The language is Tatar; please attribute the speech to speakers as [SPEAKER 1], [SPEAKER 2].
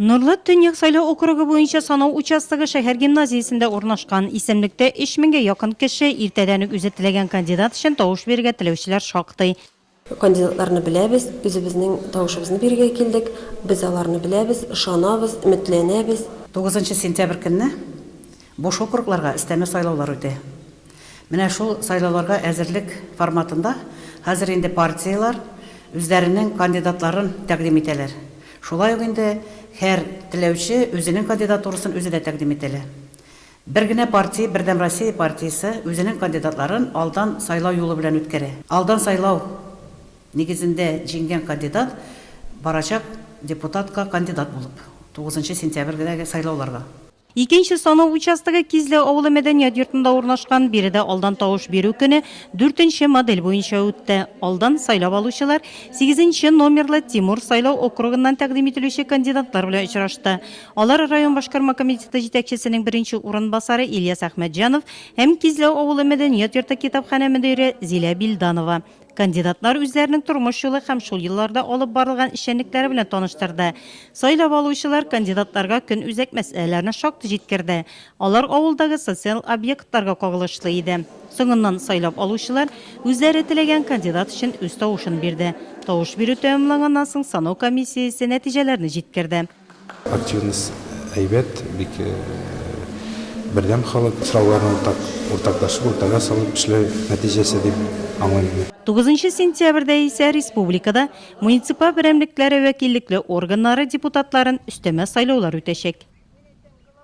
[SPEAKER 1] Норлат Төньяк сайлау округы буенча санау участогы шәһәр гимназиясендә урнашкан. Исемлектә 3000 гә якын кеше. Иртәдән үк үзе теләгән кандидат өчен тавыш бирергә теләүчеләр шактый. Кандидатларны
[SPEAKER 2] беләбез, үзебезнең тавышыбызны бирергә килдек. Без аларны беләбез, ышанабыз, өметләнәбез. Тугызынчы сентябрь
[SPEAKER 3] көнне Буш округларга өстәмә сайлаулар үтә. Менә шул сайлауларга әзерлек форматында хәзер инде партияләр үзләренең кандидатларын тәкъдим итәләр. Шулай ук инде һәр теләүче үзенең кандидатурасын үзе дә тәкъдим итә лә. Бер генә партия, Бердәм Россия партиясе үзенең кандидатларын алдан сайлау юлы белән үткәрә. Алдан сайлау нигезендә җиңгән кандидат барачак депутатка кандидат булып, тугызынчы сентябрьдәге сайлауларга. Икенче санау
[SPEAKER 1] участогы Кизле авылы мәдәният йортында урнашкан. Биредә алдан тавыш бирү көне дүртенче модель буенча үтте. Алдан сайлап алучылар сигезенче номерлы Тимур сайлау округыннан тәкъдим ителүче кандидатлар белән очрашты. Алар район башкарма комитеты җитәкчесенең беренче урынбасары Ильяс Әхмәтҗанов һәм Кизләү авылы мәдәният йорты китапханә мөдире Зилә Билданова, Кандидатлар үзләренең тормыш юлы һәм шул елларда алып барылган эшчәнлекләре белән таныштырды. Сайлап алучылар кандидатларга көн үзәк мәсьәләләрне шактый җиткерде. Алар авылдагы социаль объектларга кагылышлы иде. Соңыннан сайлап алучылар үзләре теләгән кандидат өчен үз тавышын бирде. Тавыш бирү тәмамланганнан соң санау комиссиясе нәтиҗәләрне җиткерде. Активность
[SPEAKER 4] әйбәт, бик бердәм халык, сорауларны уртак, уртаклашып, уртага салып эшләү нәтиҗәсе дип аңлыйм мин. Тугызынчы
[SPEAKER 1] сентябрьдә исә республикада муниципаль берәмлекләре вәкиллекле органнары депутатларын өстәмә сайлаулар үтәчәк.